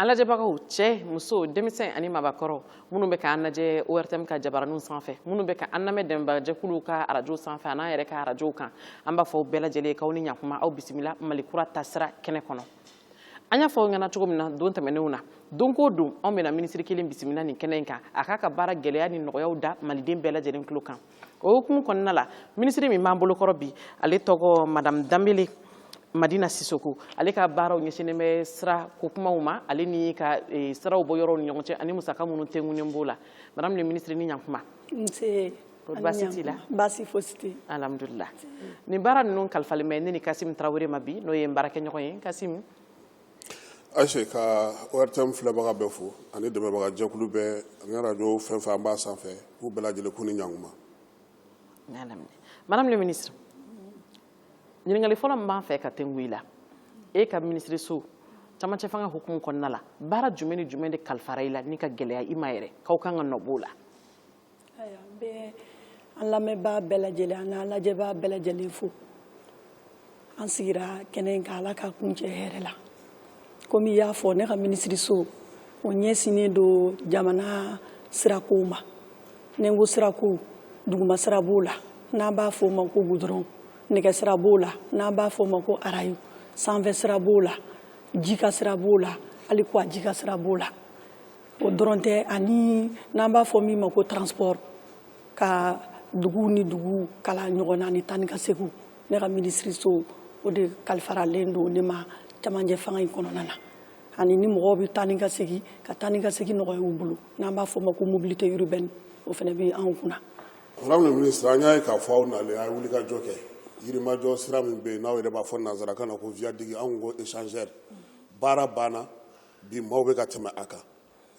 an lajɛbagaw cɛ muso denmisɛn ani mabakɔrɔ minnu bɛ k'an lajɛ ortm ka jabaraniw sanfɛ minnu bɛ ka an lamɛn dɛmɛbagajɛkuluw ka arajo sanfɛ a n'an yɛrɛ ka arajow kan an b'a fɔ bɛɛ lajɛlen k'aw ni ɲakuma aw bisimila mali kura taasira kɛnɛ kɔnɔ an y'a fɔ aw ɲɛna cogo min na don tɛmɛnenw na don ko don anw bɛna minisiri kelen bisimila nin kɛnɛ in kan a k'a ka baara gɛlɛya ni nɔgɔyaw da maliden bɛɛ lajɛlen tulo kan o hukumu kɔnɔna la minisiri min b'an bolokɔrɔ bi ale tɔgɔ madame danbele madina sisoko ale ka baaraw ɲɛsinnen bɛ sirako kumaw ma ale ni ka e, siraw bɔ yɔrɔw ni ɲɔgɔn cɛ ani musaka minnu tɛngunen b'o la madame le ministre ni ɲakuma nse baasi t'i la baasi fosi tɛ alhamdulila nin baara ninnu kalifalen bɛ ne ni kasim tarawele ma bi n'o ye n baarakɛɲɔgɔn ye kasim Ayise ka ortm filɛbaga bɛɛ fo ani dɛmɛbagajɛkulu bɛɛ ani radio fɛn fɛn an b'a sanfɛ k'u bɛɛ lajɛlen k'u ni ɲakuma madame le ministre ɲininkali fɔlɔ min b'an fɛ ka tɛngu i la e ka minisiriso camancɛ fanga hukumu kɔnɔna la baara jumɛn ni jumɛn de kalifara i la ni ka gɛlɛya i ma yɛrɛ k'aw kan ka nɔ b'o la an lamɛnbaa bɛɛ lajɛlen a n'an lajɛbaa bɛɛ lajɛlen fo an sigira kɛnɛ in kan ala k'a kuncɛ hɛrɛ la komi i y'a fɔ ne ka minisiriso o ɲɛsinnen don jamana sirakow ma ni n ko sirakow duguma sira b'o la n'an b'a fɔ o ma ko gudɔrɔn nɛgɛ sira b'o la n'an b'a fɔ o ma ko arayo sanfɛ sira b'o la ji kan sira b'o la hali kɔgɔji kan sira b'o la o dɔrɔn tɛ ani n'an b'a fɔ min ma ko transport ka dugu ni dugu kala ɲɔgɔn na ni taa ni ka seginw ne ka minisiriso o de kalifaralen don ne ma cɛmancɛ fanga in kɔnɔna na ani ni mɔgɔw bɛ taa ni ka segin ka taa ni ka segin nɔgɔya u bolo n'an b'a fɔ ma ko mobilité urbaine o fana bɛ anw kunna. madame la ministre an y'a ye k'a fɔ aw nalen a ye wulikajɔ kɛ yirimajɔ sira min bɛ yen n'aw yɛrɛ b'a fɔ nanzarakan na ko viaduc anw ko échangeur baara banna bi maaw bɛ ka tɛmɛ a kan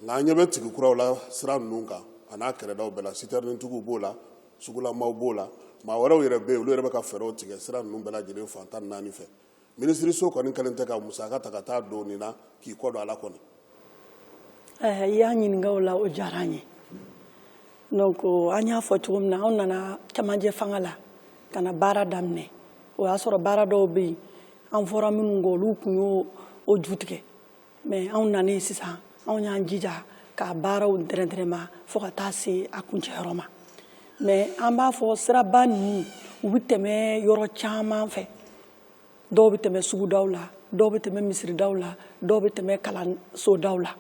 nka an ɲɛ bɛ tigi kuraw la sira ninnu kan a n'a kɛrɛdaw bɛɛ la sitɛrinitigiw b'o la sugulamaw b'o la maa wɛrɛw yɛrɛ bɛ yen olu yɛrɛ bɛ ka fɛɛrɛw tigɛ sira ninnu bɛɛ lajɛlen fan tan naani fɛ minisiriso kɔni kɛlen tɛ ka musaka ta ka taa don nin na k'i kɔ don a la kɔni i y'an ɲininka o la o diyara an ye donc an y'a fɔ cogo min na an nana cɛmancɛ fanga la ka na baara daminɛ o y'a sɔrɔ baara dɔw bɛ yen an fɔra minnu kɔ olu tun y'o ju tigɛ mɛ anw nanen sisan anw y'an jija k'a baaraw dɛrɛdɛrɛma fo ka taa se a kuncɛyɔrɔ ma mɛ an b'a fɔ siraba ninnu u bɛ tɛmɛ yɔrɔ caman fɛ dɔw bɛ tɛmɛ sugudaw la dɔw bɛ tɛmɛ misiridaw la dɔw bɛ tɛmɛ kalansodaw la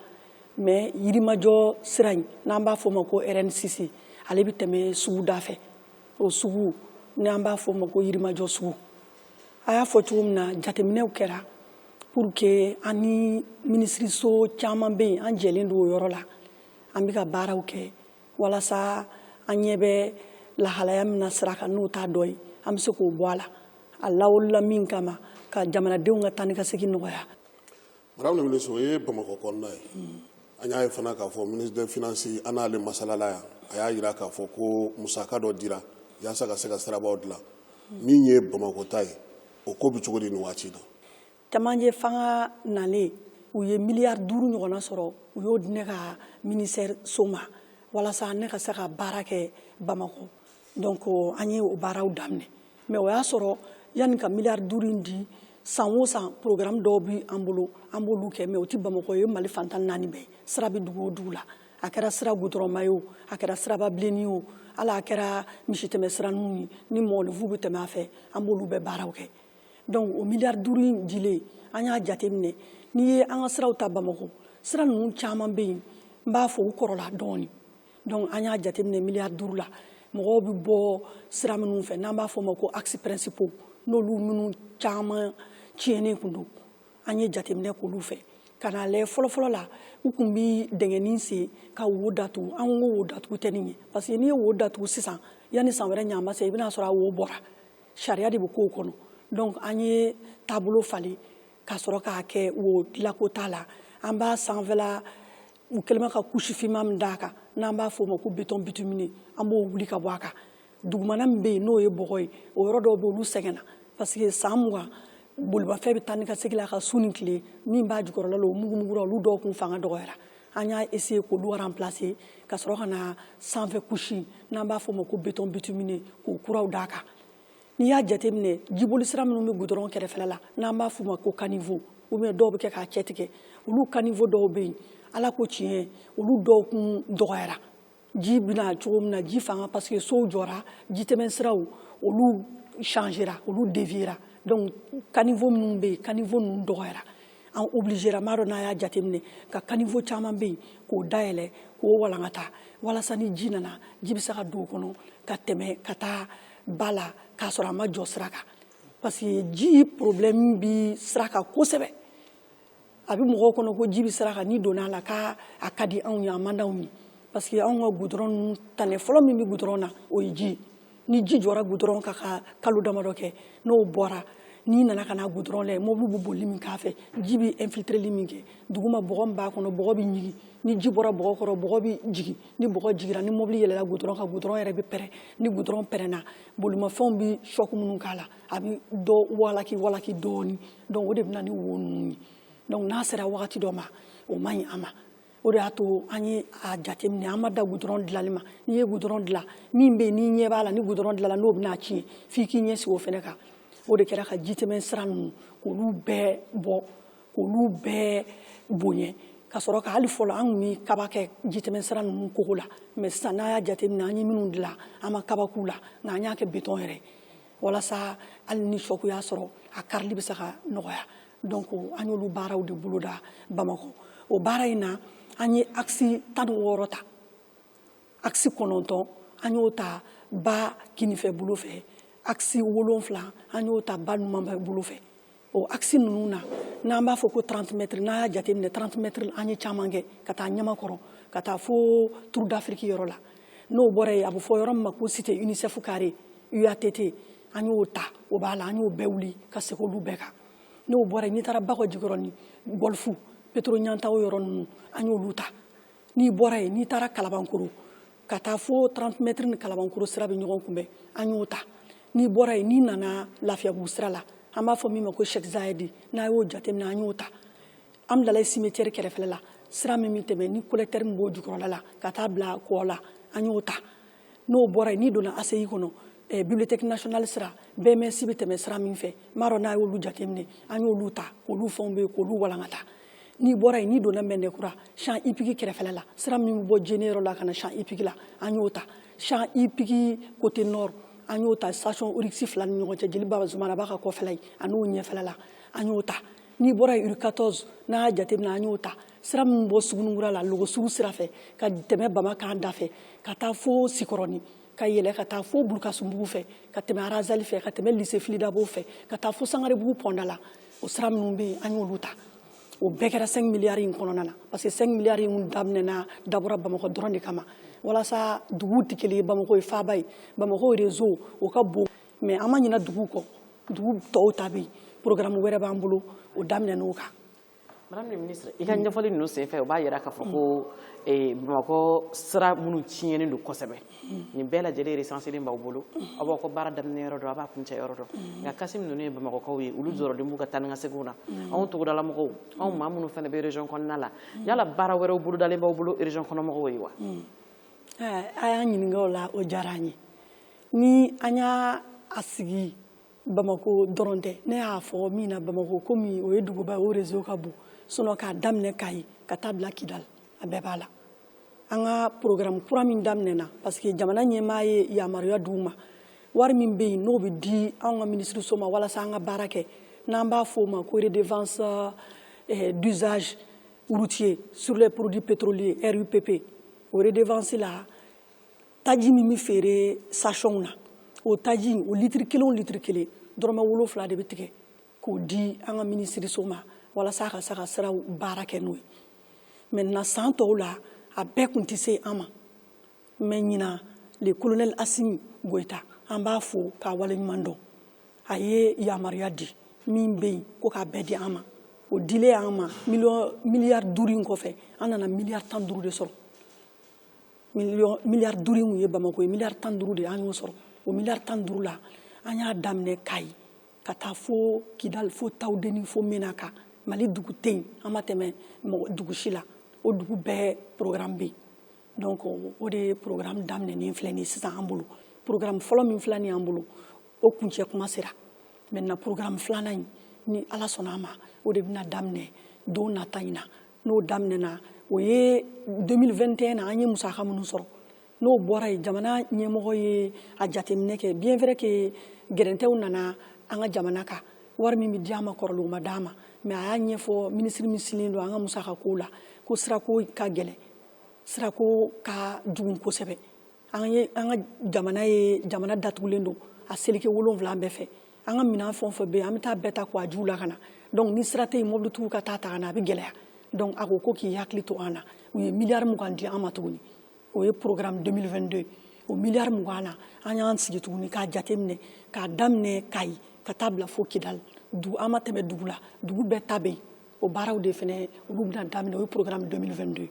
mais yirimajɔ sira in n'an b'a fɔ o ma ko RN6 ale bɛ tɛmɛ suguda fɛ o sugu n'an b'a fɔ o ma ko yirimajɔ sugu a y'a fɔ cogo min na jateminɛw kɛra pour que an ni minisiriso caman bɛ yen an jɛlen don o yɔrɔ la an bɛ ka baaraw kɛ walasa an ɲɛ bɛ lahalaya min na sira kan n'o t'a dɔ ye an bɛ se k'o bɔ a la a lawulila min kama ka jamanadenw ka taa ni ka segin nɔgɔya Madame le ministre o ye bamakɔ kɔnɔna ye an y'a ye fana k'a fɔ ministre des finances an n'ale masalala yan a y'a jira k'a fɔ ko musaka dɔ dira yaasa ka se ka sirabaw dilan min ye bamakɔta ye o ko bɛ cogo di nin waati in na cɛmancɛ fanga nalen u ye miliyari duuru ɲɔgɔnna sɔrɔ u y'o di ne ka ministère so ma walasa ne ka se ka baara kɛ bamakɔ donc an ye o baaraw daminɛ mais o y'a sɔrɔ yanni ka miliyari duuru in di san o san programme dɔw bɛ an bolo an b'olu kɛ mais o tɛ bamakɔ o ye mali fan tan ni naani bɛɛ sira bɛ dugu o dugu la a kɛra sira gudɔrɔnma ye o a kɛra siraba bilenni ye o hali a kɛra misitɛmɛ siraninw ye ni mɔgɔninfin bɛ tɛmɛ a fɛ an b'olu bɛɛ baaraw kɛ donc o miliyari duuru in dilen an y'a jateminɛ n'i ye an ka siraw ta bamakɔ sira ninnu caman bɛ yen n b'a fɔ u kɔrɔla dɔɔnin donc an y'a jateminɛ miliyari duuru la mɔgɔw bɛ bɔ sira minnu fɛ n'an b'a fɔ o ma ko axes principaux n'olu minnu caman tiɲɛnen tun don an ye jateminɛ k'olu fɛ ka n'a lajɛ fɔlɔfɔlɔ la u tun bɛ dingɛnin sen ka wo datugu an ko wo datugu tɛ nin ye parce que n'i ye wo datugu sisan yanni san wɛrɛ ɲama se i bɛna sɔrɔ a wo bɔra sariya de bɛ k'o kɔnɔ donc an ye taabolo falen ka sɔrɔ k'a kɛ wo dilanko t'a la an b'a sanfɛla u kɛlen bɛ ka couche finman min d'a kan n'an b'a fɔ o ma ko béton bitumineux an b'o wuli ka bɔ a kan dugumana min bɛ yen n'o ye bɔgɔ ye o yɔrɔ dɔw bɛ olu sɛgɛnna parce que san mugan bolimafɛn bɛ taa ni ka segin la ka su ni tile min b'a jukɔrɔla la o mugumugura olu dɔw kun fanga dɔgɔyara an y'a essayer k'olu remplacer ka sɔrɔ ka na sanfɛ couche n'an b'a fɔ o ma ko béton bitumineux k'o kuraw d'a kan n'i y'a jateminɛ jiboli sira minnu bɛ gudɔrɔn kɛrɛfɛla la n'an b'a f'u ma ko kanivo ou bien dɔw bɛ kɛ k'a cɛ tigɛ olu kanivo dɔw bɛ yen ala ko tiɲɛ olu dɔw kun dɔgɔyara ji bɛ na cogo min na ji fanga parce que sow jɔra jitɛmɛ siraw olu changera olu deviera donc kanivo minnu bɛ yen kanivo ninnu dɔgɔyara an obligelama don an y'a jateminɛ ko kanivo caman bɛ yen k'o dayɛlɛ k'o walankata walasa ni ji nana ji bɛ se ka don o kɔnɔ ka tɛmɛ ka taa ba la k'a sɔrɔ a ma jɔ sira kan parce que ji problème bi sira kan kosɛbɛ a bɛ mɔgɔw kɔnɔ ko ji bɛ sira kan n'i donna a la k'a ka di anw ye a man d'anw ye parce que anw ka gudɔrɔn ninnu tane fɔlɔ min bɛ gudɔrɔn na o ye ji ni ji jɔra gudɔrɔn kan ka kalo damadɔ kɛ n'o bɔra n'i nana ka na gudɔrɔn lajɛ mobili bɛ boli min k'a fɛ ji bɛ infiltreli min kɛ duguma bɔgɔ min b'a kɔnɔ bɔgɔ bɛ ɲigin ni ji bɔra bɔgɔ kɔrɔ bɔgɔ bɛ jigin ni bɔgɔ jigira ni mobili yɛlɛla gudɔrɔn kan gudɔrɔn yɛrɛ bɛ pɛrɛn ni gudɔrɔn pɛrɛnna bolimafɛnw bɛ sɔku minnu k'a la a bɛ dɔ walaki walaki dɔɔni donc o de bɛ na ni wo ninnu ye donc n'a sera wagati dɔ ma o man ɲi a ma o de y'a to an ye a jateminɛ an ma dan gudɔrɔn dilanni ma n'i ye gudɔrɔn dilan min bɛ yen n'i ɲɛ b'a la ni gudɔrɔn dilanna n'o bɛna tiɲɛ f'i k'i ɲɛ sigi o fɛnɛ kan o de kɛra ka jitɛmɛ sira ninnu k'olu bɛɛ bɔ k'olu bɛɛ boɲɛ ka sɔrɔ ka hali fɔlɔ an tun bɛ kaba kɛ jitɛmɛsira ninnu kogo la mais sisan n'a y'a jateminɛ an ye minnu dilan an ma kaba k'u la nka an y'a kɛ betɔn yɛrɛ walasa hali ni sɔku y'a sɔrɔ a karili bɛ se ka nɔgɔya donc an y'olu baaraw de boloda bamakɔ o baara in na an ye akisi tan ni wɔɔrɔ ta akisi kɔnɔntɔn an y'o ta ba kinifɛ bolo fɛ akisi wolonfila an y'o ta ba numanfɛ bolo fɛ o akisi ninnu na n'an b'a fɔ ko trantimɛtiri n'a y'a jateminɛ trantimɛtiri an ye caman kɛ ka taa ɲamakɔrɔ ka taa fo turu d'afiriki yɔrɔ la n'o bɔra yen a bɛ fɔ yɔrɔ min ma ko cité unicef carré uatt an y'o ta o b'a la an y'o bɛɛ wuli ka segin olu bɛɛ kan n'o bɔra yen n'i taara bakɔ jikɔrɔni gɔlifu petoro ɲantaw yɔrɔ ninnu an y'olu ta n'i bɔra yen n'i taara kalabankoro ka taa fo 30 mètres ni kalabankoro sira bɛ ɲɔgɔn kunbɛn an y'o ta n'i bɔra yen n'i nana lafiyabugu sira la an b'a fɔ min ma ko Sheikh Zayedi n'a y'o jateminɛ an y'o ta Hamdallaye cimetière kɛrɛfɛla la sira min bɛ tɛmɛ ni collecteur min b'o jukɔrɔla la ka taa bila kɔ la an y'o ta n'o bɔra yen n'i donna ACI kɔnɔ eh, bibliothèque nationale sira BMS bɛ tɛmɛ sira min fɛ n b'a dɔn n'a y'olu jateminɛ an y'olu ta k'olu fɛnw bɛ yen k'olu walankata n'i bɔra yen n'i donna mɛdinakura champ hippique kɛrɛfɛla la sira min bɛ bɔ jeneyɔrɔ la ka na champ hippique la an y'o ta champ hippique côté nord an y'o ta station Oryx fila ni ɲɔgɔn cɛ jeli bazumanaba ka kɔfɛla ye an'o ɲɛfɛla la an y'o ta n'i bɔra yen rue 14 n'a y'a jateminɛ an y'o ta sira min bɔ suguninkura la lɔgɔsugu sira fɛ ka tɛmɛ bama kan da fɛ ka taa fo sikɔrɔni ka yɛlɛ ka taa fo bulukasumbugu fɛ ka tɛmɛ arazɛli fɛ ka tɛmɛ lycée fily dabo fɛ ka taa fo sangarebugu pɔnda la o sira minnu bɛ yen an y'olu ta o bɛɛ kɛra 5 miliyari in kɔnɔna na parce que 5 miliyari in daminɛna dabɔra bamakɔ dɔrɔn de kama walasa duguw tɛ kelen ye bamakɔ ye faaba ye bamakɔ réseau o ka bon mais an ma ɲina duguw kɔ dugu tɔw ta bɛ yen programme wɛrɛ b'an bolo o daminɛn'o kan i ka ɲɛfɔli ninnu senfɛ o b'a jira k'a fɔ ko eh, bamakɔ sira minnu tiɲɛnen don kosɛbɛ nin bɛɛ lajɛlen resanselen b'aw bolo aw b'aw ka baara daminɛ yɔrɔ dɔn a b'a kuncɛ yɔrɔ dɔn nka kasim ninnu ye bamakɔkaw ye olu jɔrɔlen b'u ka taa ni ka seginw na anw togodalamɔgɔw anw maa minnu fana bɛ région kɔnɔna la yala baara wɛrɛw bolodalen b'aw bolo région kɔnɔmɔgɔw ye wa eh, a y'an ɲininka o la o diyara an ye ni an y'a sigi bamakɔ dɔrɔn tɛ ne y'a fɔ min na bamakɔ komi o ye duguba ye o réseau ka bon sinon k'a daminɛ kayi ka taa bila kidali a bɛɛ b'a la an ka programme kura min daminɛna parce que jamana ɲɛmaa ye yamaruya d'u ma wari min bɛ yen n'o bɛ di anw ka minisiriso ma walasa an ka baara kɛ n'an b'a fɔ o ma ko redevance eh, d'usage routier sur les produits pétroliers rupp o redevance la taji min bɛ feere stationw na o taji o litiri kelen o litiri kelen dɔrɔmɛ wolonfila de bɛ tigɛ k'o di an ka minisiriso ma walasa a ka se ka siraw baara kɛ n'o ye maintenant san tɔw la a bɛɛ tun tɛ se an ma mais ɲinan le colonel asimi goyita an b'a fo k'a waleɲuman dɔn a ye yamaruya di min bɛ yen ko k'a bɛɛ di an ma o dilen an ma miliyɔn miliyari duuru in kɔfɛ an nana miliyari tan duuru de sɔrɔ miliyari duuru in ye bamako ye miliyari tan duuru de an y'o sɔrɔ o miliyari tan duuru la an y'a daminɛ kayi ka taa fo kidali fo tawudeni fo menaka mali dugu tɛ yen an ma tɛmɛ dugu si la o dugu bɛɛ programme bɛ yen donc o de ye programme daminɛnen filɛ nin ye sisan an bolo programme fɔlɔ min filɛ nin y'an bolo o kuncɛ kuma sera maintenant programme filanan in ni ala sɔnna a ma o de bɛna daminɛ don nata in na n'o daminɛna o ye 2021 na an ye musaka minnu sɔrɔ n'o bɔra yen jamana ɲɛmɔgɔ ye a jateminɛ kɛ bien vrai que gɛrɛntɛw nana an ka jamana kan wari min bɛ di an ma kɔrɔlen o ma d'an ma mais a y'a ɲɛfɔ minisiri min sigilen don an ka musaka kow la ko sirako ka gɛlɛn sirako ka jugun kosɛbɛ an ye an ka jamana ye jamana datugulen don a seleke wolonfila bɛɛ fɛ an ka minɛn fɛn o fɛn bɛ yen an bɛ taa bɛɛ ta kɔgɔjiw la ka na donc ni sira tɛ yen mɔbilitigiw ka taa ta ka na a bɛ gɛlɛya donc a ko ko k'i hakili to an na u ye miliyari mugan di an ma tuguni o ye programme 2022 o miliyari mugan na an y'an sigi tuguni k'a jateminɛ k'a daminɛ kayi ka taa bila fo kidali du an ma tɛmɛ dugu la dugu bɛɛ ta bɛ yen o baaraw de fana olu bɛna daminɛ o ye programme 2022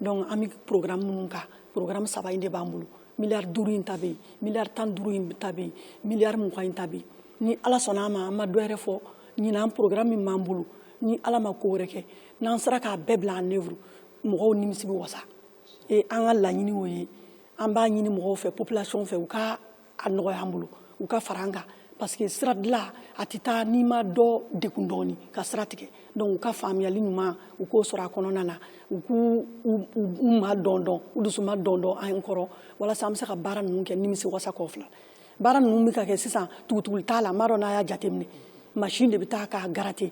donc an bɛ programme minnu kan programme saba in de b'an bolo miliyari duuru in ta bɛ yen miliyari tan duuru in ta bɛ yen miliyari mugan in ta bɛ yen ni ala sɔnna a ma an ma dɔ yɛrɛ fɔ ɲinan programme min b'an bolo ni ala ma ko wɛrɛ kɛ n'an sera k'a bɛɛ bila en œuvre mɔgɔw nimisi bɛ wasa e an ka laɲini o ye an b'a ɲini mɔgɔw fɛ population fɛ u ka a nɔgɔy'an bolo u ka fara an kan parce que sira dilan a tɛ taa n'i ma dɔ degun dɔɔni ka sira tigɛ donc u ka faamuyali ɲuman u k'o sɔrɔ a kɔnɔna na u k'u u ma dɔn dɔn u dusu ma dɔn dɔn an kɔrɔ walasa an bɛ se ka baara ninnu kɛ nimisi wasa kɔnɔ filɛ baara ninnu bɛ ka kɛ sisan tugutuguli t'a la n b'a dɔn n'a y'a jateminɛ machine de bɛ taa k'a gratter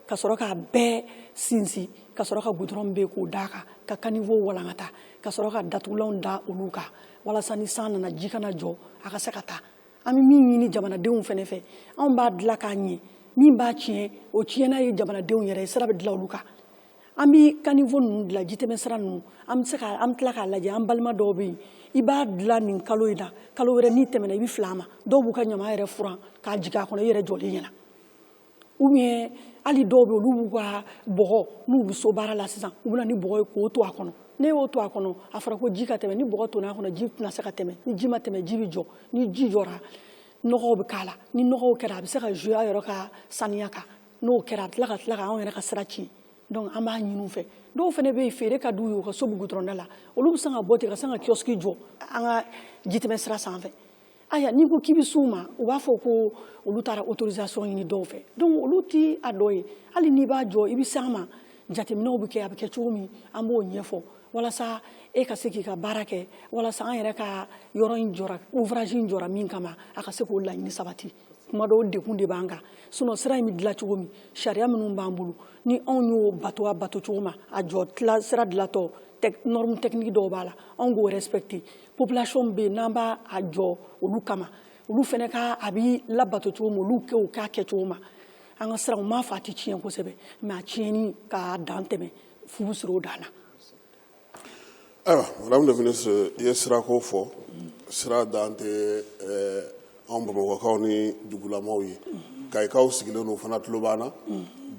ka sɔrɔ k'a bɛɛ sinsin ka sɔrɔ ka goudron bɛ k'o d'a kan ka caniveau walankata ka sɔrɔ ka datugulanw da olu kan walasa ni san nana ji kana jɔ a ka se ka taa an bɛ min ɲini jamanadenw fana fɛ anw b'a dilan k'a ɲɛ min b'a tiɲɛ o tiɲɛna ye jamanadenw yɛrɛ ye sira bɛ dilan olu kan an bɛ caniveau ninnu dilan jitɛmɛsira ninnu an bɛ tila k'a lajɛ an balima dɔw bɛ yen i b'a dilan nin kalo in na kalo wɛrɛ n'i tɛmɛna i bɛ fili a ma dɔw b'u ka ɲama yɛrɛ furan k'a jigin a kɔnɔ i yɛrɛ jɔlen ɲɛna ou bien hali dɔw bɛ olu b'u ka bɔgɔ n'u bɛ so baara la sisan u bɛ na ni bɔgɔ ye k'o ton a kɔnɔ n'i y'o ton a kɔnɔ a fɔra ko ji ka tɛmɛ ni bɔgɔ tonna a kɔnɔ ji tɛna se ka tɛmɛ ni ji ma tɛmɛ ji bɛ jɔ ni ji jɔra nɔgɔw bɛ k'a la ni nɔgɔw kɛra a bɛ se ka jouer a yɛrɛ ka saniya kan n'o kɛra a bɛ tila ka tila ka anw yɛrɛ ka sira tiɲɛ donc an b'a ɲini u fɛ dɔw fana bɛ yen feere ka d'u ye u ka so bɛ goudron da la olu bɛ se ka bɔ ten ka se ka kiosque jɔ an ka jitɛmɛ sira sanfɛ ayiwa n'i ko k'i bɛ s'u ma u b'a fɔ ko olu taara autorisation ɲini dɔw fɛ donc olu tɛ a dɔ ye hali n'i b'a jɔ i bɛ s'an ma jateminɛw bɛ kɛ a bɛ kɛ cogo min an b'o ɲɛfɔ walasa e ka se k'i ka baara kɛ walasa an yɛrɛ ka yɔrɔ in jɔra ouvrage in jɔra min kama a ka se k'o laɲini sabati kuma dɔw degun de b'an kan sinon sira in bɛ dilan cogo min sariya minnu b'an bolo ni anw y'o bato a bato cogo ma a jɔ sira dilantɔ norme technique dɔw b'a la anw k'o respecter population bɛ yen n'an b'a jɔ olu kama olu fana ka a bɛ labato cogo ma olu k'o k'a kɛ cogo ma an ka siraw n m'a fɔ a tɛ tiɲɛ kosɛbɛ mais a tiɲɛni k'a dan tɛmɛ fu bɛ siri o dan na ayiwa madame le ministre i ye sirako fɔ sira dan tɛ ɛɛ anw bamakɔkaw ni dugulamaw ye kayikaw sigilen don u fana tulo b'an na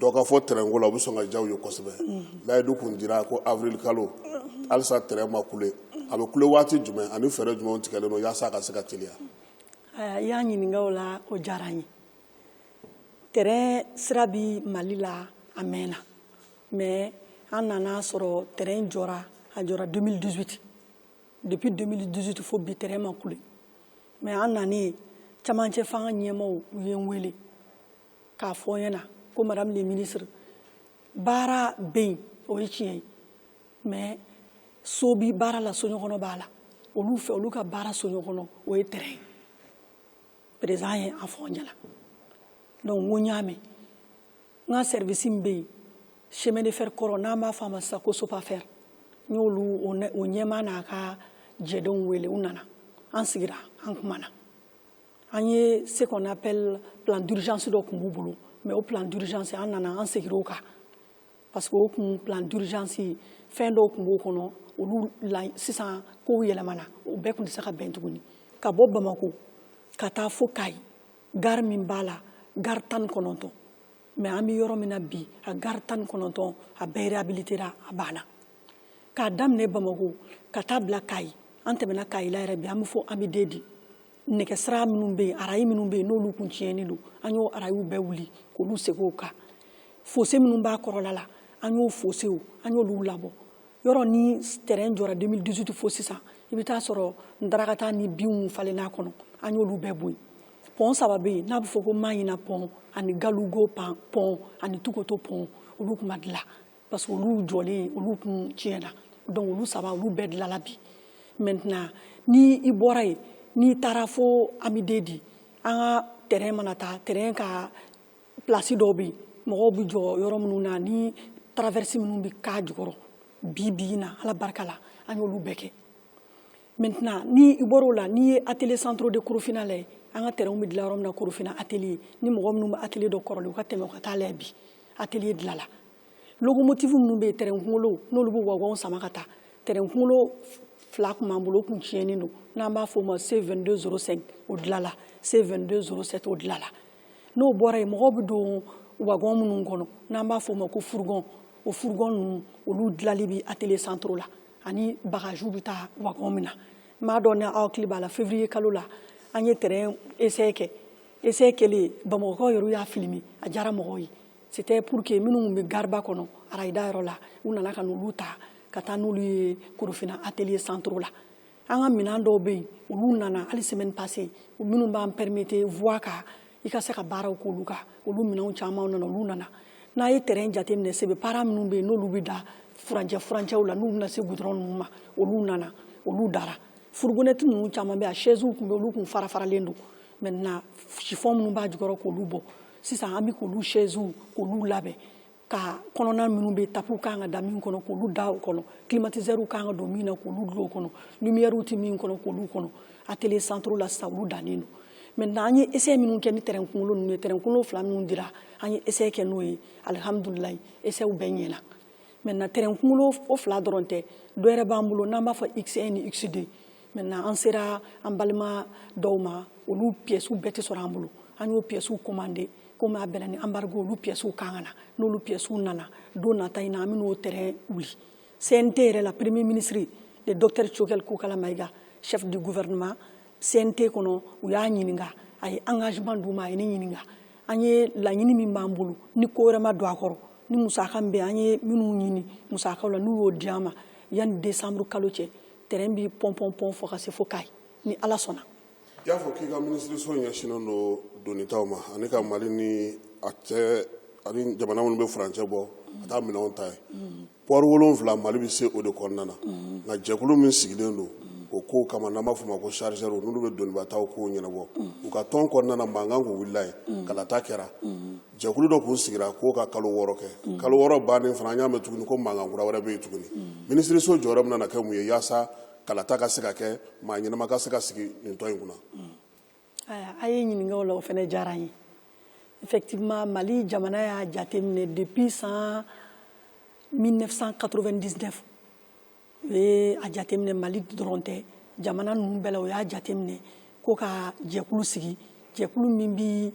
dɔ ka fɔ train ko la u bɛ sɔn ka diya u ye kosɛbɛ layidu tun dira ko avril kalo halisa train ma kule a bɛ kule waati jumɛn ani fɛɛrɛ jumɛnw tigɛlen don yaasa a ka se ka teliya i y'a ɲininka o la o diyara n ye train sira bɛ mali la a mɛnna mais an nana a sɔrɔ train jɔra a jɔra 2018 depuis 2018 fo bi train ma kule mais an nanen camancɛ fanga ɲɛmaaw u ye n wele k'a fɔ n ɲɛna ko madame le ministre baara bɛ yen o ye tiɲɛ ye mais so bi baara la soɲɔgɔnɔ b'a la olu fɛ olu ka baara soɲɔgɔnɔ o ye train ye président ye a fɔ n ɲɛna donc n ko n y'a mɛn n ka sɛrivisi min bɛ yen chemin de fer kɔrɔ n'an b'a fɔ a ma sisan ko sopafɛr n y'olu o ɲɛmaa n'a ka jɛdenw wele u nana an sigira an kumana an ye ce qu'on appelle plan d'urgence dɔ tun b'u bolo mais o plan d'urgence an nana an segira o kan parce que o tun plan d'urgence fɛn dɔw tun b'o kɔnɔ olu la sisan kow yɛlɛmana o bɛɛ tun tɛ se ka bɛn tuguni ka bɔ bamako ka taa fo kayi gari min b'a la gari tan ni kɔnɔntɔn mais an bɛ yɔrɔ min na bi a gari tan ni kɔnɔntɔn a bɛɛ réhabilitera a banna k'a daminɛ bamako ka taa bila kayi an tɛmɛna kayi la yɛrɛ bi an bɛ fo ambidedi nɛgɛsira minnu bɛ yen arayi minnu bɛ yen n'olu kun tiɲɛnen don an y'o arayiw bɛɛ wuli k'olu segin o kan fose minnu b'a kɔrɔla la an y'o fosew an y'olu labɔ yɔrɔ ni tɛrɛn jɔra 2018 fo sisan i bɛ taa sɔrɔ ndarakata ni binw falenna kɔnɔ an y'olu bɛɛ bɔ yen pɔn saba bɛ yen n'a bɛ fɔ ko maɲina pɔn ani galugo pɔn ani tukoto pɔn olu tun ma dilan parce que olu jɔlen olu tun tiɲɛna donc olu saba olu bɛɛ dilanna bi maintenant ni i bɔra yen n'i taara fo ambidedi an ka tɛrɛn mana taa tɛrɛn ka plasi dɔw bɛ yen mɔgɔw bɛ jɔ yɔrɔ minnu na ni traverses minnu bɛ k'a jukɔrɔ bi bi na ala barika la an y'olu bɛɛ kɛ maintenant ni i bɔra o la n'i ye atelier centraux de korofina lajɛ an ka tɛrɛnw bɛ dilan yɔrɔ min na korofina atelier ni mɔgɔ minnu bɛ atelier dɔn kɔrɔlen u ka tɛmɛ u ka taa lajɛ bi atelier dilanna lokomotifu minnu bɛ yen tɛrɛn kunkolo n'olu bɛ wagɔnw sama ka taa tɛrɛn kunkolo fila tun b'an bolo o tun tiɲɛnen don n'an b'a fɔ o ma c 22 05 o dilanna c 22 07 o dilanna n'o bɔra yen mɔgɔw bɛ don wagɔn minnu kɔnɔ n'an b'a fɔ o ma ko furugɔn o furugɔn ninnu olu dilali bɛ atelier centraux la ani bagajiw bɛ taa wagɔn min na n m'a dɔn ni aw hakili b'a la février kalo la an ye tɛrɛn essai kɛ essai kɛlen bamakɔkaw yɛrɛ y'a filimi a diyara mɔgɔw ye c'était pour que minnu bɛ gariba kɔnɔ arayida yɔrɔ la u nana ka n'olu ta ka taa n'olu ye korofina atelier centraux la an ka minɛn dɔw bɛ yen olu nana hali semaine passée minnu b'an permettre voie kan i ka se ka baaraw k'olu kan olu minɛnw caman nana olu nana n'a ye tɛrɛn jateminɛ sebe para minnu bɛ yen n'olu bɛ da furancɛw la n'u bɛna se gudɔrɔn ninnu ma olu nana olu dara furugonɛti ninnu caman bɛ a chaisew tun bɛ olu tun fara faralen don maintenant chiffon minnu b'a jukɔrɔ k'olu bɔ sisan an bɛ k'olu chaisew k'olu labɛn ka kɔnɔna minnu bɛ tapiw kan ka da min kɔnɔ k'olu da o kɔnɔ climatiseurs kan ka don min na k'olu dulon o kɔnɔ lumières tɛ min kɔnɔ k'olu kɔnɔ atelier centraux la sisan olu dannen don maintenant an ye essai minnu kɛ ni tɛrɛn kunkolo ninnu ye tɛrɛn kunkolo fila minnu dira an ye essai kɛ n'o ye alihamudulilayi essaiw bɛɛ ɲɛna maintenant tɛrɛn kunkolo o fila dɔrɔn tɛ dɔ wɛrɛ b'an bolo n'an b'a fɔ x1 ni x2 maintenant an sera an balima dɔw ma olu piyɛsiw bɛɛ tɛ sɔrɔ an bolo an y'o piyɛsiw komande komi a bɛnna ni embargo olu piyɛsiw kan ka na n'olu piyɛsiw nana don nata in na an bɛn'o tɛrɛn wuli cnt yɛrɛ la premier ministre le docteur choguel kokalla maïga chef du gouvernement cnt kɔnɔ u y'a ɲininka a ye engagement d'u ma a ye ne ɲininka an ye laɲini min b'an bolo ni ko wɛrɛ ma don a kɔrɔ ni musaka min bɛ an ye minnu ɲini musakaw la n'u y'o di an ma yanni décembre kalo cɛ tɛrɛn bi pɔnpɔnpɔn fɔ ka se fo kayi ni ala sɔnna i y'a fɔ k'i ka minisiriso ɲɛsinnen don donitaw ma ani ka mali ni a cɛ ani jamana minnu bɛ furancɛ bɔ ka taa minɛnw ta yen pɔri wolonwula mali bɛ se o de kɔnɔna na nka jɛkulu min sigilen don o kow kama n'an b'a fɔ ma ko chargeurs n'olu bɛ donibataw kow ɲɛnabɔ u ka tɔn kɔnɔna na mankan kun wulila yen kalata kɛra jɛkulu dɔ kun sigira k'o ka kalo wɔɔrɔ kɛ mm. kalo wɔɔrɔ bannen fana an y'a mɛn tuguni ko mankan kura wɛrɛ bɛ yen tuguni mm. minisiriso jɔyɔrɔ bɛna kɛ mun ye yaasa kalata ka se ka kɛ maa ɲɛnama ka se ka sigi nin tɔn in kunna mm. a ye ɲininka o la o fana diyara n ye effectivement mali jamana y'a jateminɛ depuis san 1999 u ye a jateminɛ mali dɔrɔn tɛ jamana ninnu bɛɛ la u y'a jateminɛ ko ka jɛkulu sigi jɛkulu min bi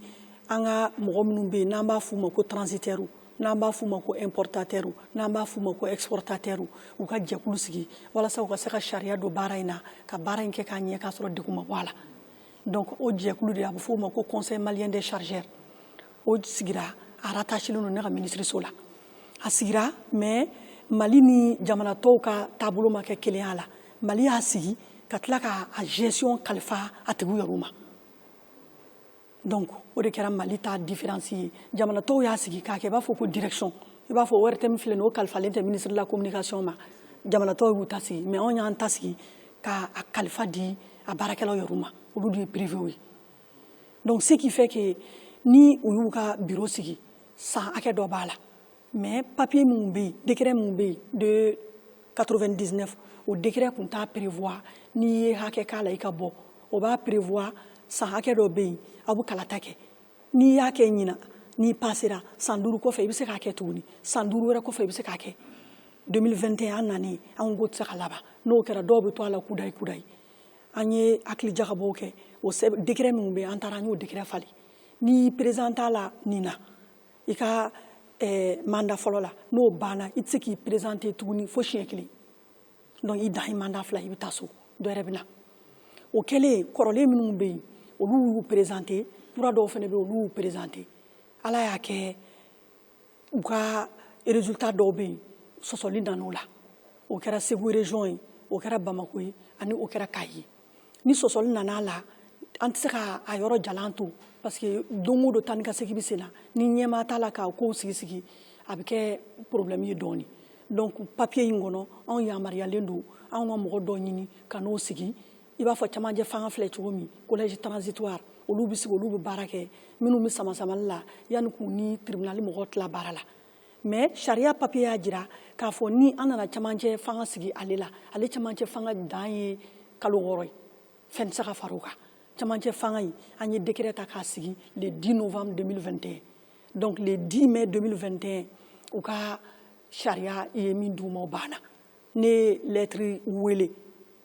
an ka mɔgɔ minnu bɛ yen n'an b'a f'u ma ko transitaires n'an b'a f'u ma ko importateurs n'an b'a f'u ma ko exportateurs u ka jɛkulu sigi walasa u ka se ka sariya don baara in na ka baara in kɛ k'a ɲɛ k'a sɔrɔ degun ma bɔ a la donc o jɛkulu de a bɛ f'o ma ko conseil malien des chargeurs o sigira a rattachélen don ne ka minisiriso la a sigira mais mali ni jamana tɔw ka taabolo ma kɛ kelenya la mali y'a sigi ka tila ka a gestion kalifa a tigiw yɛrɛw ma donc o de kɛra mali ta différence ye jamana tɔw y'a sigi k'a kɛ i b'a fɔ ko direction i b'a fɔ ortm filɛ nin o kalifalen tɛ ministre de la communication ma jamana tɔw y'u ta sigi mais anw y'an ta sigi ka a kalifa di a baarakɛlaw yɛrɛw ma olu de ye privew ye donc ce qui fait que ni u y'u ka biro sigi san hakɛ dɔ b'a la mais papier minnu bɛ yen décret minnu bɛ yen de 99 o décret tun t'a prévoir n'i ye hakɛ k'a la i ka bɔ o b'a prévoir san hakɛ dɔ bɛ yen aw bɛ kalata kɛ n'i y'a kɛ ɲinan n'i pasera san duuru kɔfɛ i bɛ se k'a kɛ tuguni san duuru wɛrɛ kɔfɛ i bɛ se k'a kɛ 2021 an nanen anw ko tɛ se ka laban n'o kɛra dɔw bɛ to a la kudayi kudayi an ye hakili jagabɔw kɛ o décret minnu bɛ yen an taara an y'o décret falen n'i perezante a la nin na i ka eh, manda fɔlɔ la n'o banna i tɛ se k'i perezante tuguni fo siɲɛ kelen donc i dan ye manda fila i bɛ taa so dɔ wɛrɛ bɛ na o kɛlen kɔrɔlen minnu bɛ yen olu y'u perezante kura dɔw fana bɛ yen olu y'u perezante ala y'a kɛ u ka résultat dɔw bɛ yen sɔsɔli nana o la o kɛra Segu région ye o kɛra Bamako ye ani o kɛra Kayi ye ni sɔsɔli nana a la an tɛ se ka a yɔrɔ jalan to parce que don o don taa ni ka segin bɛ sen na ni ɲɛmaa t'a la k'a kow sigi sigi a bɛ kɛ problème ye dɔɔni donc papier in kɔnɔ anw yamaruyalen don anw ka mɔgɔ dɔ ɲini ka n'o sigi i b'a fɔ camancɛ fanga filɛ cogo min collège transitoire olu bɛ sigi olu bɛ baara kɛ minnu bɛ samasamali la yanni k'u ni tribunal mɔgɔw tila baara la mais sariya papier y'a jira k'a fɔ ni an nana camancɛ fanga sigi ale la ale camancɛ fanga dan ye kalo wɔɔrɔ ye fɛn tɛ se ka fara o kan camancɛ fanga in an ye décret ta k'a sigi le 10 novembre 2021 donc le 10 mai 2021 u ka sariya ye min d'u ma o banna ne ye lɛtiri wele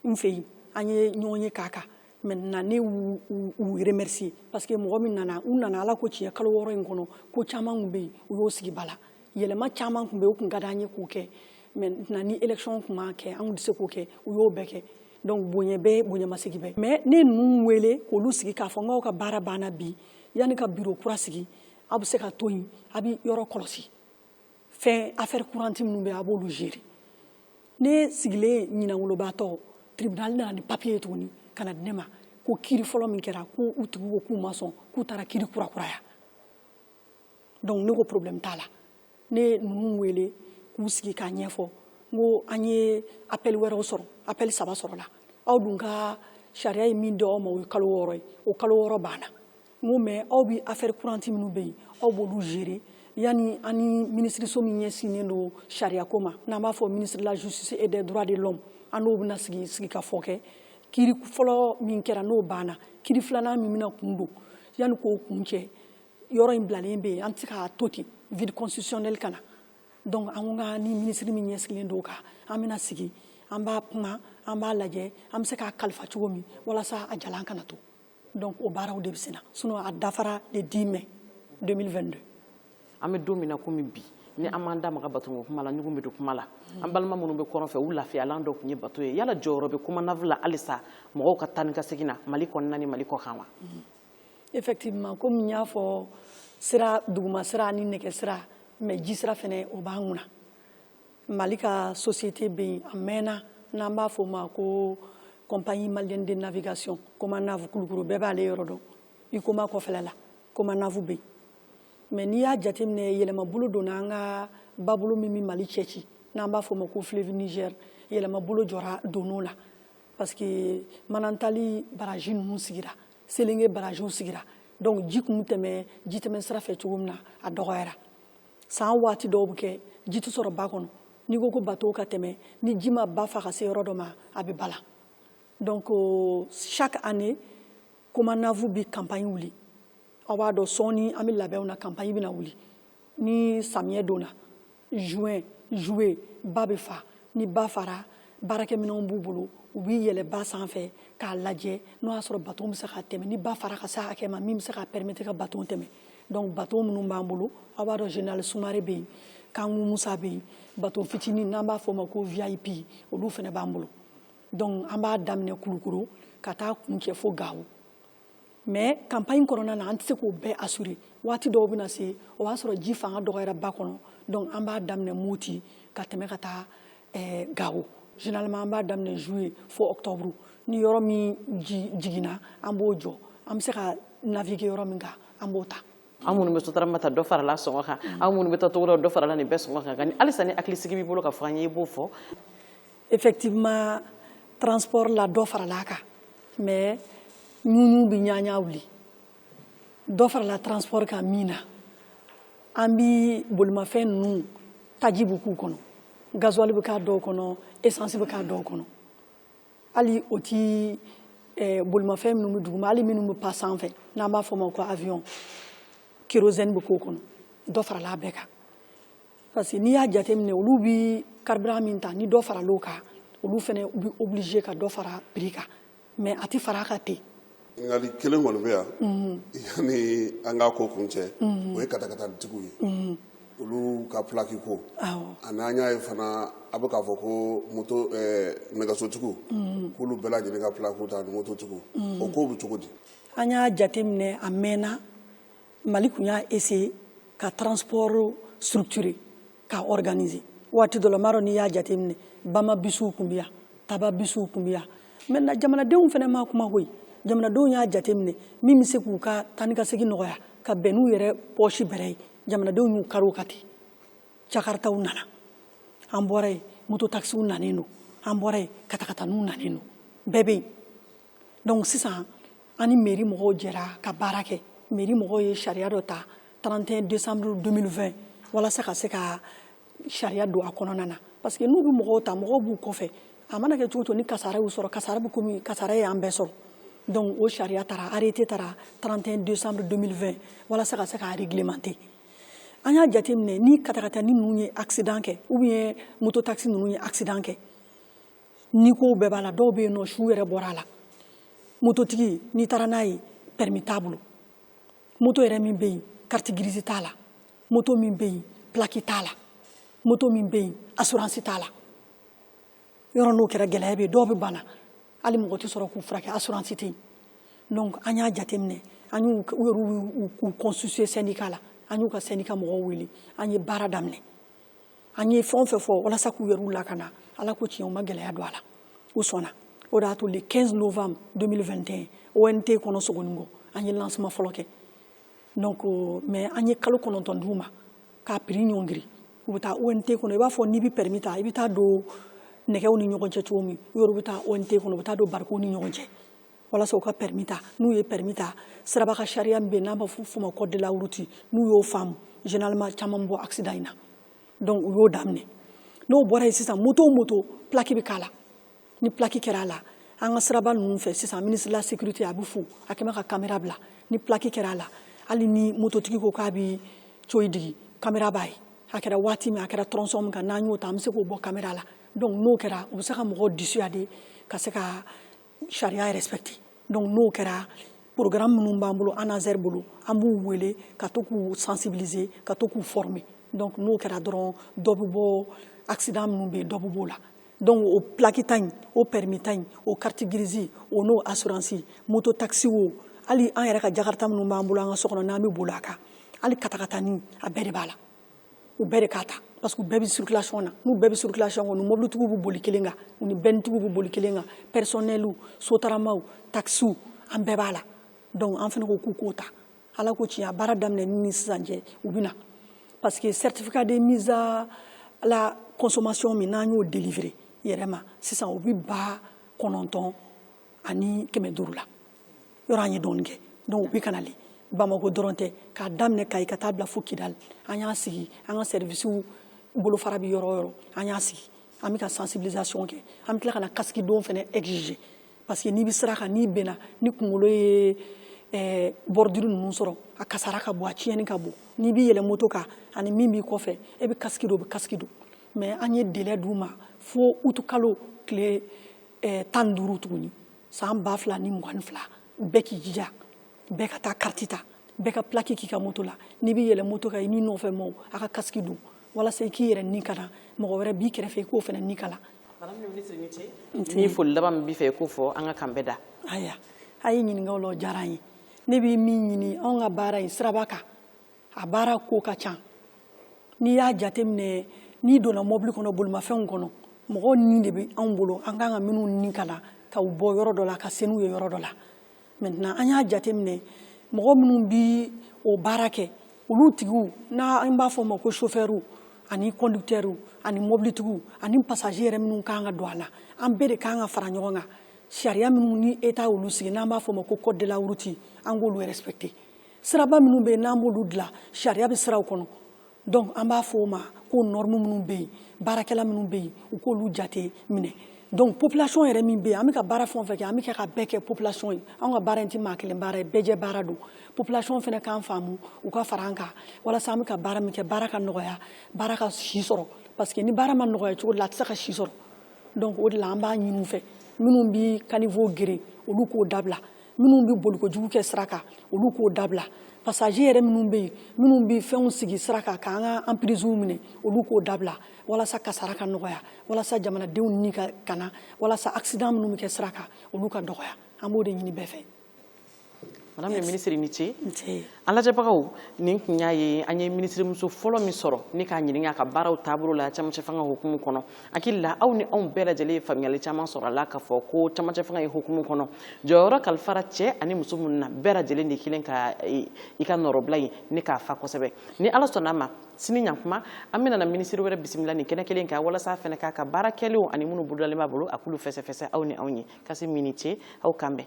n fɛ yen an ye ɲɔgɔn ye k'a kan maintenant ne y'u remercier parce que mɔgɔ min nana u nana ala ko tiɲɛ kalo wɔɔrɔ in kɔnɔ ko caman tun bɛ yen u y'o sigi bala yɛlɛma caman tun bɛ yen o tun ka d'an ye k'o kɛ maintenant ni élection tun ma kɛ an tun tɛ se k'o kɛ u y'o bɛɛ kɛ donc bonya bɛɛ bonyamasegin bɛɛ mais ne ninnu wele k'olu sigi k'a fɔ n k'aw ka baara banna bi yanni ka biro kura sigi aw bɛ se ka to yen a bɛ yɔrɔ kɔlɔsi fɛn affaire courante minnu bɛ yen a b'olu gérer ne sigilen ɲinangolobaatɔ tribunal nana ni papier ye tuguni ka na di ne ma ko kiri fɔlɔ min kɛra ko u tigiw ko k'u ma sɔn k'u taara kiri kurakuraya donc ne ko problème t'a la ne ye ninnu wele k'u sigi k'a ɲɛfɔ n ko an ye appel wɛrɛw sɔrɔ appel saba sɔrɔla aw dun ka sariya ye min di aw ma o ye kalo wɔɔrɔ ye o kalo wɔɔrɔ banna N ko mais aw bɛ affaire courante minnu bɛ yen aw b'olu gérer yanni an ni minisiriso min ɲɛsinnen don sariya ko ma n'an b'a fɔ ministère de la justice et des droits de l'homme an n'o bɛna sigikafɔ kɛ kiri fɔlɔ min kɛra n'o banna kiri filanan min bɛna kun don yanni k'o kun cɛ yɔrɔ in bilalen bɛ yen an tɛ se k'a to ten vide constitutionnel ka na donc an ko an ni minisiri min ɲɛsigilen don o kan an bɛna sigi an b'a kuma an b'a lajɛ an bɛ se k'a kalifa cogo min walasa a jalan kana to donc o baaraw de bɛ senna sinon a dafara le 10 mai 2022 an bɛ don min na komi bi ni an m'an da maga bato ko kuma la ɲugun bɛ don kuma la an balima minnu bɛ kɔrɔn fɛ u lafiyalan dɔ tun ye bato ye yala jɔyɔrɔ bɛ komanav la halisa mɔgɔw ka taa ni ka segin na mali kɔnɔna ni mali kɔkan wa effectivement komi n y'a fɔ sira duguma sira ni nɛgɛ sira mais ji sira fɛnɛ o b'an kunna mali ka société bɛ yen a mɛnna n'an b'a fɔ o ma ko compagnie malienne de navigation komanav kulukɔrɔ bɛɛ b'ale yɔrɔ dɔn huicoma kɔfɛla la komanav bɛ yen mais n'i y'a jateminɛ yɛlɛmabolo donna an ka babolo min bɛ mali cɛci n'an b'a fɔ o ma ko fleuve niger yɛlɛmabolo jɔra donn'o la parce que manantali baraji ninnu sigira selenge barajiw sigira donc ji kun tɛmɛ jitɛmɛ sira fɛ cogo min na a dɔgɔyara san waati dɔw bɛ kɛ ji tɛ sɔrɔ ba kɔnɔ n'i ko ko bateau ka tɛmɛ ni ji ma ba fa ka se yɔrɔ dɔ ma a bɛ bala donc euh, chaque année comanav bi campagne wuli aw b'a dɔn sɔɔni an bɛ labɛnw na campagne bɛna wuli ni samiyɛ donna juin juillet ba bɛ fa ni ba fara baarakɛminɛnw b'u bolo u bi yɛlɛ ba sanfɛ k'a lajɛ n'o y'a sɔrɔ bateau bɛ se ka tɛmɛ ni ba fara ka se hakɛ ma min bɛ se ka permettre ka bateau tɛmɛ donc bateau minnu b'an bolo aw b'a dɔn général sumare bɛ yen kanku musa bɛ yen bateau fitinin n'an b'a fɔ ma ko vip olu fana b'an bolo donc an b'a daminɛ kulukoro ka taa kun cɛ fo gawo mais campagne kɔnɔna na an tɛ se k'o bɛɛ assurer waati dɔw bɛna se o b'a sɔrɔ ji fanga dɔgɔyara ba kɔnɔ donc an b'a daminɛ moti ka tɛmɛ ka taa eh, gawo généralement an b'a daminɛ juillet fo octobre ni yɔrɔ min jiginna an b'o jɔ an bɛ se ka naviguer yɔrɔ min kan an b'o ta an minnu bɛ sotarama ta dɔ farala sɔngɔ kan an minnu bɛ taa togoda dɔ farala nin bɛɛ sɔngɔ kan nka halisa ni hakilisigi b'i bolo k'a fɔ an ye i b'o fɔ effectivement transport la dɔ farala a kan mais ɲuɲu bɛ ɲaɲa wuli dɔ farala transport kan min na an bi bolimafɛn ninnu taji bɛ k'u kɔnɔ gasoil bɛ k'a dɔw kɔnɔ essence bɛ k'a dɔw kɔnɔ hali o ti eh, bolimafɛn minnu bɛ duguma hali minnu bɛ pan sanfɛ n'an b'a fɔ ma ko avion kérosène bɛ k'o kɔnɔ dɔ farala a bɛɛ kan parce que n'i y'a jateminɛ olu bɛ carburant min ta ni dɔ faral'o kan olu fana bɛ obligé ka dɔ fara prix kan mais a tɛ fara a kan ten ɲininkali kelen kɔni bɛ yan yanni an k'a ko kun cɛ o ye katakatanitigiw ye olu ka pilaki ko ani an y'a ye fana a bɛ k'a fɔ ko moto nɛgɛsotigiw k'olu bɛɛ lajɛlen ka pilakiw ta ani mototigiw o kow bɛ cogo di an y'a jateminɛ a mɛnna mali kun y'a essayer ka transport structurer k'a organiser waati dɔ la n m'a dɔn n'i y'a jateminɛ bama bisiw kun bɛ yan taba bisiw kun bɛ yan maintenant jamanadenw fana ma kuma koyi jamanadenw y'a jateminɛ min bɛ se k'u ka taa ni ka segin nɔgɔya ka bɛn n'u yɛrɛ pɔsi bɛrɛ ye jamanadenw y'u kari o kan ten jakaritaw nana an bɔra yen moto takisiw nanen don an bɔra yen katakataniw nanen don bɛɛ bɛ yen donc sisan an ni mairie mɔgɔw jɛra ka baara kɛ mairie mɔgɔw ye sariya dɔ ta 31 décembre 2020 walasa ka se ka sariya don a kɔnɔna na parce que n'u bɛ mɔgɔw ta mɔgɔw b'u kɔfɛ a mana kɛ cogo o cogo ni kasara y'u sɔrɔ kasara bɛ komi kasara y'an bɛɛ sɔrɔ donc o sariya tara arrêté tara 31 décembre 2020 walasa ka se k'a réglementer an y'a jateminɛ ni katakatani ninnu ye accident kɛ ou bien moto taxi ninnu ye accident kɛ ni ko bɛɛ b'a la dɔw bɛ yen nɔ su yɛrɛ bɔra a la mototigi n'i taara n'a ye pɛrɛmi t'a bolo moto yɛrɛ min bɛ yen kariti girizi t'a la moto min bɛ yen pilaki t'a la moto min bɛ yen asuransi t'a la yɔrɔ n'o kɛra gɛlɛya bɛ yen dɔw bɛ bana hali mɔgɔ tɛ sɔrɔ k'u furakɛ asuransi tɛ yen donc an y'a jateminɛ an y'u u yɛrɛ y'u constituer syndicat la an y'u ka syndicat mɔgɔw wele an ye baara daminɛ an ye fɛn o fɛn fɔ walasa k'u yɛrɛ lakana ala ko tiɲɛ u ma gɛlɛya don a la u sɔnna o de y'a to le 15 novembre 2021 ont kɔnɔ sogoninko an ye lancement fɔlɔ kɛ donc mais an ye kalo kɔnɔntɔn d'u ma k'a prix ɲɔngiri u bɛ taa ont kɔnɔ i b'a fɔ n'i bɛ permis ta i bɛ taa don nɛgɛw ni ɲɔgɔn cɛ cogo min u yɛrɛ bɛ taa ont kɔnɔ u bɛ taa don barikow ni ɲɔgɔn cɛ walasa u ka pɛrɛmi ta n'u ye pɛrɛmi ta siraba ka sariya min bɛ yen n'an b'a f'o ma code de la route n'u y'o faamu généralement caman bɛ bɔ accident in na donc u y'o daminɛ n'o bɔra yen sisan moto o moto plaque bɛ k'a la ni plaque kɛra a la an ka siraba ninnu fɛ sisan ministre de la sécurité a bɛ fo a kɛmɛ ka caméra bila ni plaque kɛra a la hali ni mototigi ko k'a bɛ coyi digi caméra b'a ye a kɛra waati min a kɛra tronçon min kan n'an y'o ta an bɛ se k'o bɔ caméra la donc n'o kɛra u bɛ se ka mɔgɔw dissuader ka se ka sariya yɛrɛ respecter donc n'o kɛra programme minnu b'an bolo anaser bolo an b'u wele ka to k'u sensibiliser ka to k'u former donc n'o kɛra dɔrɔn dɔ bɛ bɔ accident minnu bɛ yen dɔ bɛ b'o la donc o plaque ta in o permis ta in o carte grise o n'o assurance moto taxi o hali an yɛrɛ ka jakarta minnu b'an bolo an ka so kɔnɔ n'an bɛ boli a kan hali katakatani a bɛɛ de b'a la u bɛɛ de k'a ta parce que u bɛɛ bɛ circulation na n'u bɛɛ bɛ circulation kɔnɔ mobilitigiw bɛ boli kelen kan u ni bɛnitigiw bɛ boli kelen kan personnels sotaramaw taxiw an bɛɛ b'a la donc an fana ko k'u k'o ta ala ko tiɲɛ a baara daminɛ ni ni sisan cɛ u bɛ na parce que certificat de mise à la consommation min n'an y'o délivrer yɛrɛ ma sisan o bɛ ba kɔnɔntɔn ani kɛmɛ duuru la yɔrɔ an ye dɔɔni kɛ donc u bɛ ka nali bamako dɔrɔn tɛ k'a daminɛ kayi ka taa bila fo kidali an y'a sigi an ka sɛrivisiw bolofara bɛ yɔrɔ o yɔrɔ an y'a sigi an bɛ ka sensibilisation kɛ an bɛ tila ka na kasiki don fana exiger parce que n'i bɛ sira kan n'i binna n'i kunkolo ye eh, bordure ninnu sɔrɔ a kasara ka bon a tiɲɛni ka bon n'i bɛ yɛlɛ moto kan ani min b'i kɔfɛ e bɛ kasiki don o bɛ kasiki don mais an ye délai d'u ma fo utukalo tile eh, tan ni duuru tuguni san ba fila ni mugan ni fila bɛɛ k'i jija bɛɛ ka taa kariti ta bɛɛ ka pilaki k'i ka moto la n'i bɛ yɛlɛ moto kan i n'i nɔfɛ mɔgɔw a ka kasiki don walasa i k'i yɛrɛ ni kana mɔgɔ wɛrɛ b'i kɛrɛfɛ i k'o fana ni kana madame la ministre ni foli laban min b'i fɛ i k'o fɔ an ka kan bɛɛ da ayiwa a ye ɲininka o la o diyara an ye ne bɛ min ɲini anw ka baara ye siraba kan a baara ko ka ca n'i y'a jateminɛ n'i donna mɔbili kɔnɔ bolimafɛnw kɔnɔ mɔgɔw ni de bɛ anw bolo an kan ka minnu ni kana ka u bɔ yɔrɔ dɔ la ka se n'u ye yɔrɔ dɔ la maintenant an y'a jateminɛ mɔgɔ minnu bi o baara kɛ olu tigiw n'an b'a fɔ o ma ko chauffeurw ani conducteurs ani mobilitigiw ani passager yɛrɛ minnu kan ka don a la an bɛɛ de kan ka fara ɲɔgɔn kan sariya minnu ni État olu sigi n'an b'a fɔ o ma ko code de la route an k'olu respecter siraba minnu bɛ yen n'an b'olu dilan sariya bɛ siraw kɔnɔ donc an b'a fɔ o ma ko norme minnu bɛ yen baarakɛla minnu bɛ yen u k'olu jate minɛ donc population yɛrɛ min bɛ yen an bɛ ka baara fɛn o fɛn kɛ an bɛ kɛ k'a bɛɛ kɛ population ye an ka baara in tɛ maa kelen baara ye bɛɛjɛ baara don population fana k'an faamu u ka fara an kan walasa an bɛ ka baara min kɛ baara ka nɔgɔya baara ka si sɔrɔ parce que ni baara ma nɔgɔya cogo la a tɛ se ka si sɔrɔ donc o de la an b'a ɲini u fɛ minnu bɛ caniveau geren olu k'o dabila minnu bɛ bolikojugu kɛ sira kan olu k'o dabila passager yɛrɛ minnu bɛ yen minnu bɛ fɛnw sigi sira kan k'an ka emprisew minɛ olu k'o dabila walasa kasara ka nɔgɔya walasa jamanadenw ni ka kana walasa accident minnu bɛ kɛ sira kan olu ka dɔgɔya an b'o de ɲini bɛɛ fɛ madame le ministre i ni ce An lajɛbagaw nin kun y'a ye an ye minisirimuso fɔlɔ min sɔrɔ ni k'a ɲininka a ka baaraw taabolo la camancɛ fanga hukumu kɔnɔ hakili la aw ni anw bɛɛ lajɛlen ye faamuyali caman sɔrɔ a la k'a fɔ ko camancɛ fanga ye hukumu kɔnɔ jɔyɔrɔ kalifara cɛ ani muso minnu na bɛɛ lajɛlen de kelen ka e, i ka nɔrɔbila ye ni k'a fa kosɛbɛ ni ala sɔnna a ma sini ɲakuma an bɛna minisiri wɛrɛ bisimila nin kɛnɛ kelen kan walasa a fana k'a ka baara kɛlenw ani minnu bolodalen b'a bolo a k'olu fɛsɛfɛsɛ aw ni anw ye kasim i ni ce aw k'an bɛn